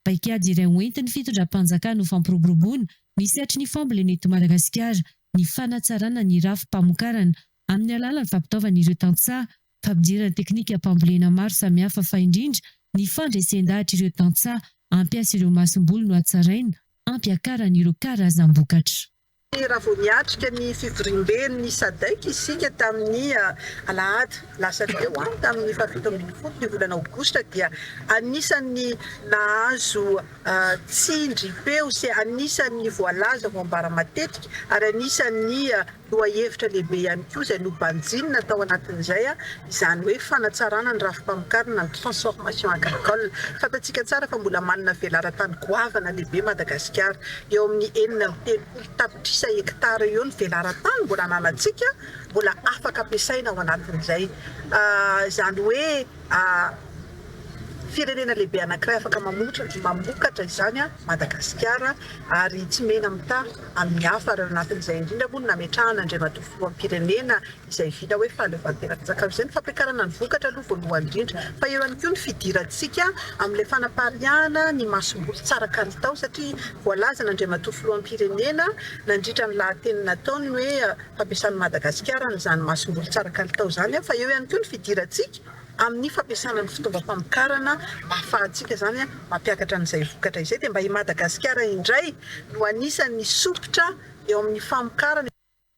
Paikady iray hoentin'ny fitondram-panjakana ho fampiroboroboana ny sehatry ny fambolena eto Madagasikara ny fanatsarana ny rafi-pamokarana amin'ny alalan'ny fampitaovana ireo tantsaha, fampidirana teknikam-pambolena maro samihafa fa indrindra ny fandresen-dahatra ireo tantsaha hampiasa ireo masomboly nohatsaraina hampiakarana ireo karazam-bokatra. Raha vao niatrika ny fivoriamben'ny Sadc isika tamin'ny alahady lasa teo, tamin'ny fahafito ambin'ny folo ny volana aogositra, dia anisan'ny nahazo tsindrim-peo sy anisan'ny voalaza ho ambara matetika ary anisan'ny lohahevitra lehibe ihany koa izay nobanjinina tao anatin'izay izany hoe fanatsarana ny rafi-pamokarana ny transformation agricole. Fantatsika tsara fa mbola manana velaran-tany goavana lehibe Madagasikara. Eo amin'ny enina amby telopolo tapitrisa hektara eo ny velaran-tany mbola ananantsika mbola afaka ampiasaina ao anatin'izay. Izany hoe firenena lehibe anankiray afaka mamokatra izany Madagasikara ary tsy mena-mitaha amin'ny hafa ary ao anatin'izay indrindra moa no nametrahan'Andriamatoa Filoham-pirenena izay vita hoe fahaleovantena fizakana izay ny fampiakarana ny vokatra aloha voalohany indrindra fa eo ihany koa ny fidirantsika amin'ilay fanapariahana ny masomboly tsara kalitao satria voalazan' Andriamatoa Filoham-pirenena nandritra ny lahateny nataony ny hoe fampiasan'i Madagasikara an'izany masomboly tsara kalitao izany fa eo ihany koa ny fidirantsika amin'ny fampiasana ny fitaovam-pamokarana ahafahantsika izany mampiakatra an'izay vokatra izay dia mba i Madagasikara indray no anisan'ny sompitra eo amin'ny famokarana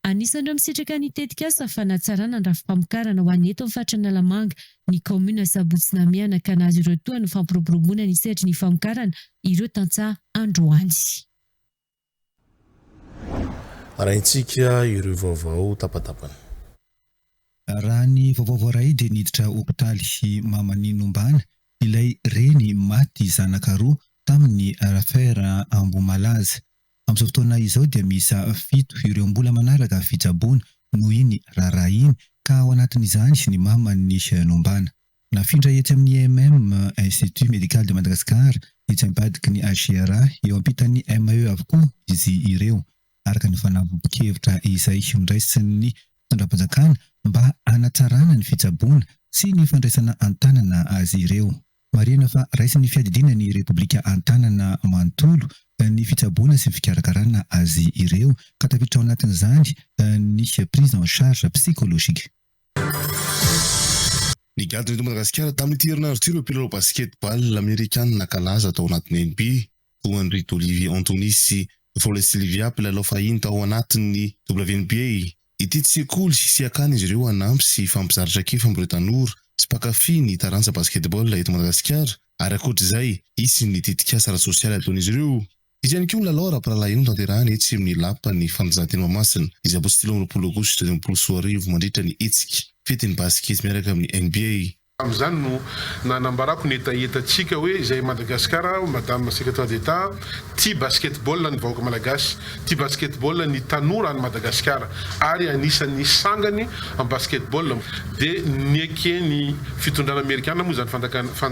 Anisan'ireo misitraka ny tetikasa fanatsarana ny rafi-pamokarana ho an'ny eto amin'ny faritra Analamanga ny kaominina Sabotsy Namehana ka nahazo ireo tohany ny fampiroboroboana ny sehatry ny famokarana ireo tantsaha androany. Arahintsika ireo vaovao tapatapany. Raha ny vaovao voaray dia niditra hopitaly i Mamanianombana, ilay reny maty zanaka roa tamin'ny Raffer Ambohimalaza, Amin'izao fotoana izao dia miisa fito ireo mbola manaraka fitsaboana noho iny raharaha iny ka ao anatin'izany ny maman'i Nombana. Nafindra etsy amin'ny IMM, Institut Médical de Madagascar, etsy ambadiky ny HCRA, eo ampitan'ny MAE avokoa izy ireo, araka ny fanambohan-kevitra izay noraisin'ny fitondram-panjakana mba hanatsarana ny fitsaboana sy ny fandraisana an-tanana azy ireo. Marihina fa raisin'ny fiadidiana ny Repoblika an-tanana manontolo ny fitsaboana sy fikarakarana azy ireo ka tafiditra ao anatin'izany ny prise en charge psychologique. Nigadona eto Madagasikara tamin'ity herinandro ity ireo mpilalao basketball amerikana nankalaza tao anaty NB, toa an'i Ridolivy Anthony sy Frolley Sylvia, mpilalao fahiny tao anatin'ny WNBA. Ity sekoly sy akany izy ireo hanampy sy hifampizara traikefa amin'ireo tanora sy mpankafy ny taranja basketball eto Madagasikara ary ankoatra izay, hisy ny tetikasa ara-tsosialy ataon'izy ireo. Hisy ihany koa ny lalao ara-pirahalahiany hotanterahina etsy amin'ny Lapan'ny Fanatanjahantena Mahamasina, Sabotsy telo amby roapolo aogositra dimy ambin'ny folo sy roa arivo, mandritra ny hetsika Fetin'ny Basikety miaraka amin'ny NBA. Tamin'izany no nanambarako ny hetahetantsika hoe izay Madagascar, Madame Secrétaire d'Etat, tia basketball ny vahoaka malagasy, tia basketball ny tanora any Madagasikara ary anisan'ny sangany amin'ny basketball dia neken'ny fitondrana amerikana moa izany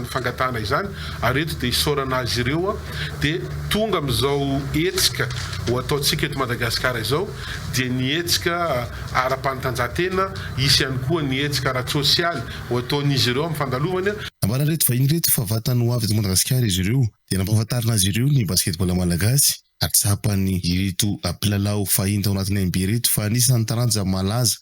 fangatahana izany ary eto dia isaorana azy ireo dia tonga amin'izao hetsika ho ataontsika eto Madagasikara izao. dia ny hetsika ara-panatanjahantena, hisy ihany koa ny hetsika ara-tsosialy ho ataon'izy ireo amin'ny fandalovany. Nambaran'ireto vahiny ireto fa vantany ho avy eto Madagasikara izy ireo dia nampahafantarina azy ireo ny basketball malagasy. Atsapany ireto mpilalao fahiny tao anatin'ny NB ireto fa anisan'ny taranja malaza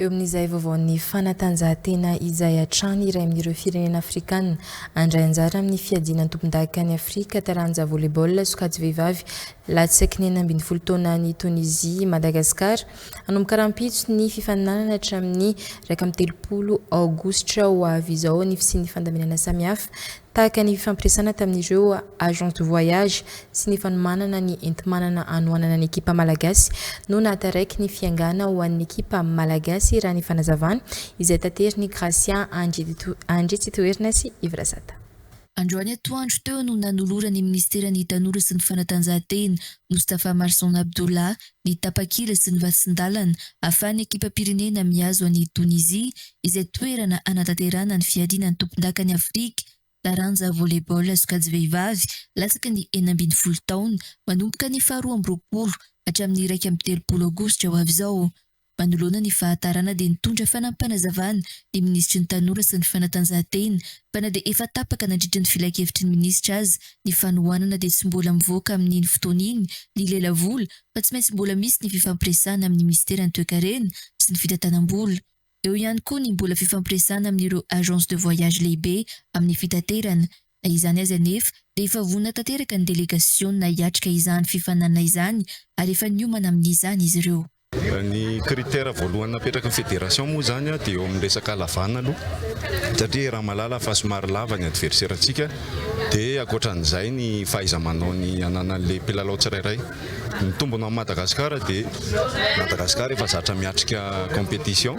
Eo amin'izay vaovaon'ny fanatanjahantena izay hatrany, iray amin'ireo firenena afrikana handray anjara amin'ny fiadiana ny tompondaka an'i Afrika taranja volleyball sokajy vehivavy latsaky ny enina ambin'ny folo taona any Tonizia i Madagasikara. Hanomboka rahampitso ny fifaninanana hatramin'ny iraika amby telopolo aogositra ho avy izao ny fisian'ny fandaminana samihafa Tahaka ny fifampiresahana tamin'ireo agents de voyage sy ny fanomanana ny enti-manana anohanana ny ekipa malagasy no nahataraiky ny fiangana ho an'ny ekipa malagasy raha ny fanazavana izay taterin'i Gracia Andritsitoerina sy Yves Razata. Androany atoandro teo no nanoloran'ny minisiteran'ny Tanora sy ny fanatanjahantena, Moustapha Marson Abdullah, ny tapakila sy ny vatsin-dalana ahafahan'ny ekipam-pirenena mihazo an'i Tonizia izay toerana hanatanterahana ny fiadiana ny tompondakan'i Afrika taranja volley-ball sokajy vehivavy latsaky ny enina ambin'ny folo taona manomboka ny faharoa amby roapolo hatramin'ny iraika amby telopolo aogositra ho avy izao. Manoloana ny fahatarana dia nitondra fanampanazavana ny minisitry ny Tanora sy ny fanatanjahantena fa na dia efa tapaka nandritry ny filankevitry ny minisitra aza ny fanohanana dia tsy mbola mivoaka amin'iny fotoana iny ny lelavola fa tsy maintsy mbola misy ny fifampiresahana amin'ny minisiteran'ny toekarena sy ny fitantanam-bola. Eo ihany koa ny mbola fifampiresahana amin'ireo agence de voyage lehibe amin'ny fitaterana. Na izany aza anefa dia efa vonona tanteraka ny delegasiona hiatrika izany fifaninanana izany ary efa niomana amin'izany izy ireo. Ny critère voalohany napetrak'i ny federation moa izany dia eo amin'ny resaka halavana aloha satria raha mahalala fa somary lava ny adverserantsika dia ankoatran'izay ny fahaiza-manaony ananan'ilay mpilalao tsirairay. Ny tombony ho an'i Madagasikara dia Madagasikara efa zatra miatrika competition,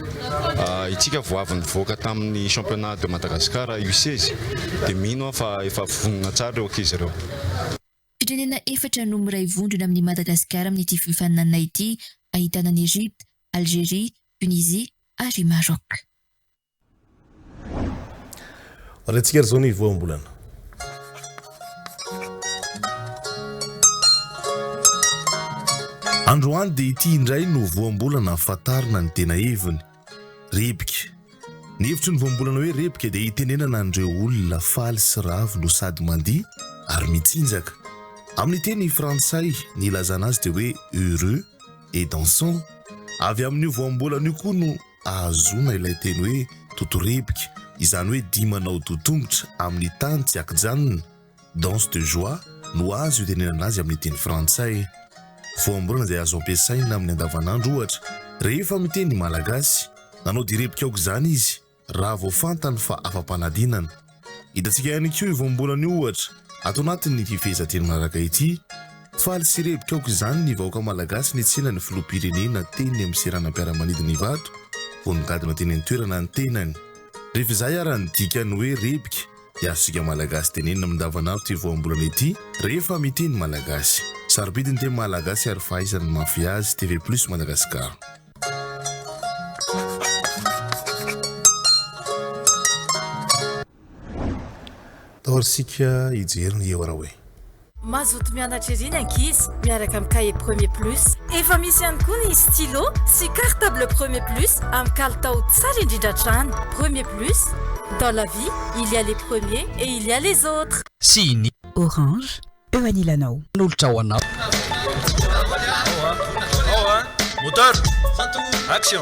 itsika vao avy nivoaka tamin'ny championnat de Madagascar U16 dia mino aho fa efa vonona tsara ireo ankizy ireo. Firenena efatra no miray vondrona amin'i Madagasikara amin'ity fifaninanana ity, ahitana an'i Egypte, Algerie, Tunisie ary Maroc. Ariantsika ary izao ny voambolana. Androany dia ity indray no voambolana fantarina ny tena heviny. Rebiky. Ny hevitry ny voambolana hoe rebiky dia itenenana an'ireo olona faly sy ravo no sady mandihy ary mitsinjaka. Amin'ny teny frantsay, ny ilazana azy dia hoe heureux et dansant. Avy amin'io voambolana io koa no ahazoana ilay teny hoe doto-rebiky, izany hoe dihy manao doha tongotra amin'ny tany tsy ankijanona. Danse de joie no azo itenenana azy amin'ny teny frantsay. Voambolana izay azo ampiasaina amin'ny andavanandro, ohatra, rehefa miteny malagasy. Nanao direbika aoka izany izy, raha vao fantany fa afa-panadinana. Hitantsika ihany koa io voambolana io, ohatra, ato anatin'ny fifehezanteny manaraka ity, Faly sy hirebika aoka izany ny vahoaka malagasy nitsenga ny filoham-pirenena teny amin'ny seranam-piaramanidina Ivato vao nigadona teny an-toerana ny tenany. Revizay ara ny dikany hoe rebika. Dia azontsika Malagasy tenenina mindavan'andro ity voambolana ity rehefa mitia ny Malagasy. Sarobidy ny teny Malagasy ary fahaizana ny mahafehy azy, TV Plus Madagascar. Tao ary isika hijery ny eo raha hoe. Mazoto mianatra ery ny ankizy miaraka amin'ny kahie Premier Plus. Efa misy ihany koa ny stylo sy cartable Premier Plus amin'ny kalitao tsara indrindra hatrany. Premier Plus, dans la vie, il y a les premiers et il y a les autres. Sy ny. Orange eo anilanao. Hanolotra ho anao. Moteur, action!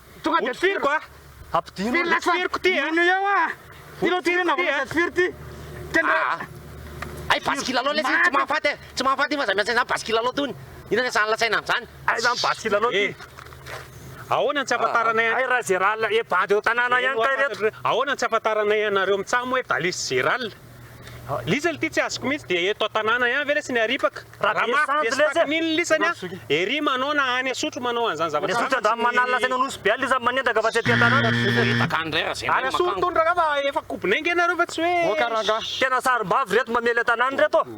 Tonga dia tifiriko a! Ampidino ry tifiriko ty a! Mino eo a! Ty lo ty re navao lasa tifiry ty! Aa! Hay basy kilalao lesy iny tsy mahafaty e! Tsy mahafaty iny fa zay miasa izany basy kilalao tony! Inona ny sahan'la saina amin'izany? Hay zany basy kilalao ty! Eh! Ahoana ny tsy ahafantaranay an. Hay ra Gerald e bandy eo an-tanàna ihany kay ireto! Ahoana ny tsy ahafantaranay anareo mitsam hoe Balisy Gerald? Lisany ity tsy azoko mihitsy dia eto an-tanàna ihany ve ilay siniaripaka? Ramafy be sy takin'iny lisany a! Ery manao na any Asotro manao an'izany zavatra izany mantsy ny. Any Asotro andramo manalina teny Anosy be any lisany manendaka fa tsy aty an-tanàna. Manendaka any indray raha izay indray ny makango. Any Asotro hono rangahy fa efa kobonay ange nareo fa tsy hoe. Tena sarim-bavy ireto mamely an-tanàna ireto.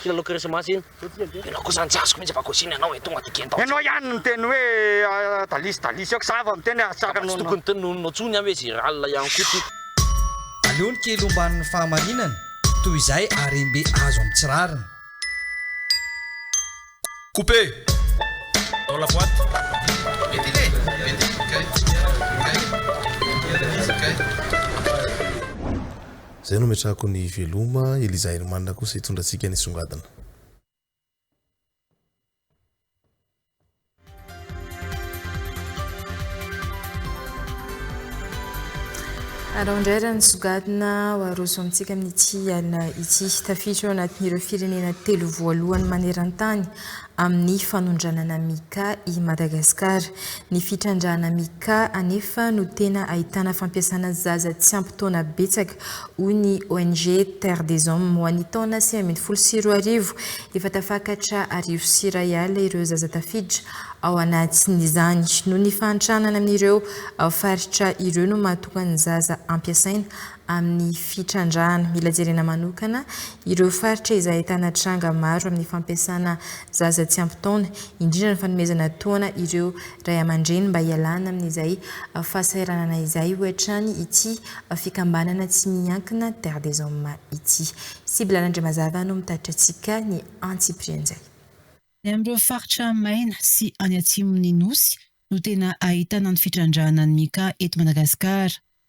Kilalao krismasy iny. Ianao kosa an jazz-ko mihitsy bagosina ianao e, tonga de gentao. Ianao ihany niteny hoe dalisy dalisy eo, k'za vao miteny ary tsara noho anao. Tsy tokony teny noho anao tsony an hoe Gérald ihany koa ty. Aleo ny kely omban'ny fahamarinana toy izay harem-be azo amin'ny tsy rariny. Coupe dans la boite. Ventile, ventile, kay, kay, ventile, kay. Zay no ametrahako ny veloma, Eliza Herman kosa hitondra antsika any songadina. Alao indray raha nisongadina ho aroso amintsika amin'ity alina ity. Tafiditra ao anatin'ireo firenena telo voalohany maneran-tany amin'ny fanondranana Mica i Madagasikara. Ny fitrandrahana Mica anefa no tena ahitana fampiasana zaza tsy ampy taona betsaka, hoy ny ONG Terre des Hommes. Ho an'ny taona sivy ambin'ny folo sy roa arivo, efa tafakatra arivo sy iray alina ireo zaza tafiditra ao anatin'izany. Noho ny fahantrana any amin'ireo faritra ireo no mahatonga ny zaza ampiasaina amin'ny fitrandrahana. Mila jerena manokana ireo faritra izay ahitana tranga maro amin'ny fampiasana zaza tsy ampy taona, indrindra ny fanomezana tohana ireo ray aman-dreny mba hialana amin'izay fahasahiranana izay, hoy hatrany ity fikambanana tsy miankina Terre des Hommes ity. Sibla Randriamazava no mitatitra antsika ny antsipirian'izay. Any amin'ireo faritra maina sy any atsimon'ny Nosy no tena ahitana ny fitrandrahana ny cas eto Madagasikara.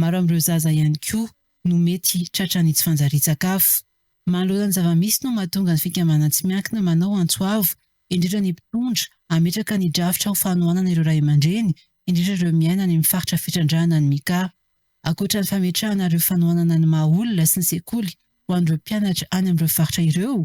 Maro amin'ireo zaza ihany koa no mety tratran'ny tsy fanjarian-tsakafo. Manoloana ny zava-misy no mahatonga ny fikambanana tsy miankina manao antso avo, indrindra ny mpitondra, hametraka ny drafitra ho fanohanana ireo ray aman-dreny, indrindra ireo miaina any amin'ny faritra fitrandrahana ny Mika. Ankoatra ny fametrahana ireo fanohanana ny maha-olona sy ny sekoly ho an'ireo mpianatra any amin'ireo faritra ireo,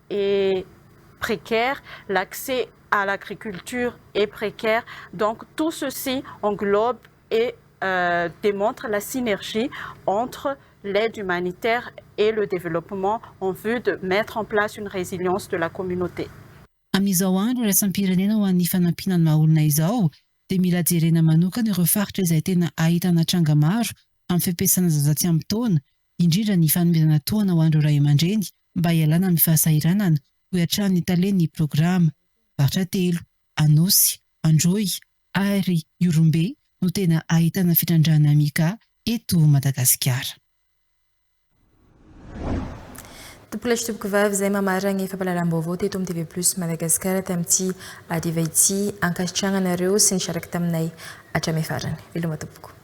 est précaire, l'accès à l'agriculture est précaire, donc tout ceci englobe et démontre la synergie entre l'aide humanitaire et le développement en vue de mettre en place une résilience de la communauté. Amin'izao andro iraisam-pirenena ho an'ny fanampiana ny maha-olona izao dia mila jerena manokana ireo faritra izay tena ahitana tranga maro amin'ny fiampiasana zaza tsy ampy taona indrindra ny fanomezana tohana ho an'ireo ray aman-dreny mba hialana amin'ny fahasahiranana, hoy hatrany ny talen'ny programa. Faritra telo, Anosy, Androy ary Ihorombe no tena ahitana fitrandrahana Mica eto Madagasikara. Tompo lahy sy tompoko vavy izay mamarana ny fampahalalam-baovao teto amin'ny TV Plus Madagasikara tamin'ity hariva ity. Ankasitrahana anareo sy ny sharaka taminay hatramin'ny farany. Veloma tompoko.